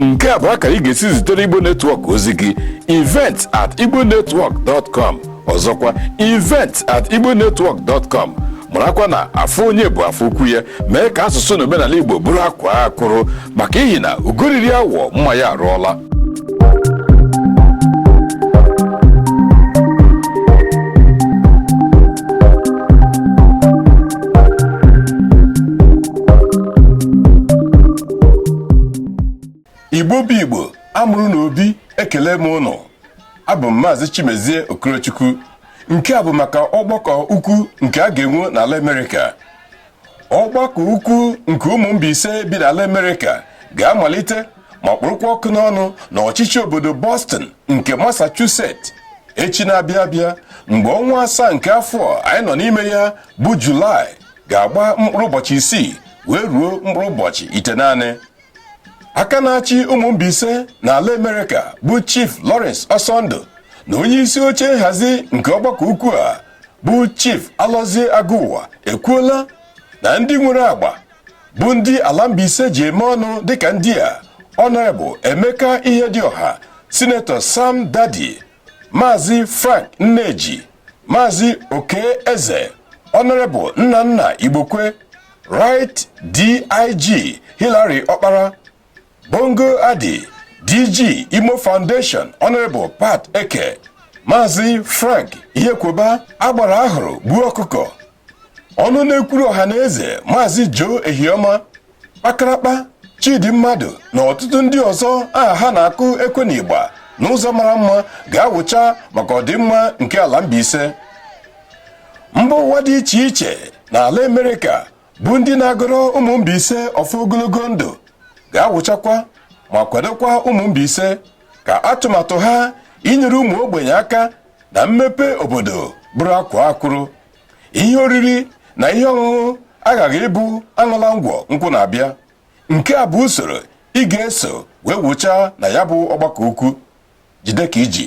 nke a bụ akara ị ga-esi zitere igbo netwọk ozi gị event at igbo netwọk dot com ọzọkwa event at igbo netwọk dot com marakwa na afọ onye bụ afọ ukwu ya mee ka asụsụ na omenala igbo bụrụ akwaa akwụrụ maka ihi na ugo riri awọ mma ya arụọla igbo bụ igbo a mụrụ na obi ekele m ụnụ abụ m maazị chimezie okorochukwu nke a bụ maka ọgbakọ ukwu nke a ga-enwe n'ala amerịka ọgbakọ ukwu nke ụmụ mbaise bi n'ala amerịka ga-amalite ma kpụrụkwa ọkụ n'ọnụ na ọchịchị obodo boston nke massachusetts echi na-abịa abịa mgbe ọnwa asaa nke afọ anyị nọ n'ime ya bụ julaị ga-agba mkpụrụ ụbọchị isii wee ruo mkpụrụ ụbọchị itenaanị aka na-achị ụmụ Mbaise na ala Amerịka bụ Chief Lawrence Ọsọndụ na onye isi oche nhazi nke ọgbakọ ukwu a bụ Chief Alọzie Agụwa ekwuola na ndị nwere agba bụ ndị ala Mbaise ji eme ọnụ dịka ndị a Honorable Emeka Ihedioha Senator Sam Daddy Maazị Frank Nneji Maazị Okey Eze Honorable Nnanna Igbokwe Right DIG Hillary Okpara Bongo Adi DG Imo Foundation Honorable Pat Eke Maazị Frank Ihekwoba agbara a hụrụ gbuo ọkụkọ ọnụ na-ekwuru ọha na eze Maazị Joe Ehioma kpakarakpa chidi mmadụ na ọtụtụ ndị ọzọ aha ha na-akụ ekwe na ịgba n'ụzọ mara mma ga-awụcha maka ọdịmma nke ala Mbaise mba ụwa dị iche iche na ala Amerịka bụ ndị na-agọrọ ụmụ Mbaise ọfọ ogologo ndụ ga-awụchakwa ma kwadokwa ụmụ Mbaise ka atụmatụ ha inyere ụmụ ogbenye aka na mmepe obodo bụrụ akwaa akwụrụ ihe oriri na ihe ọṅụṅụ aghaghị ịbụ aṅụla ngwọ nkwụ na-abịa nke a bụ usoro ị ga-eso wee wụchaa na ya bụ ọgbakọ ukwu jide ka i ji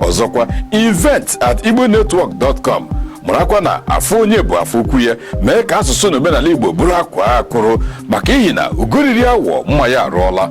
ọzọkwa event at igbonetwork.com marakwa na afọ onye bụ afọ ukwu ya mee ka asụsụ na omenala igbo bụrụ akwaa akwụrụ maka ihi na ugo riri awọ mma ya arụọla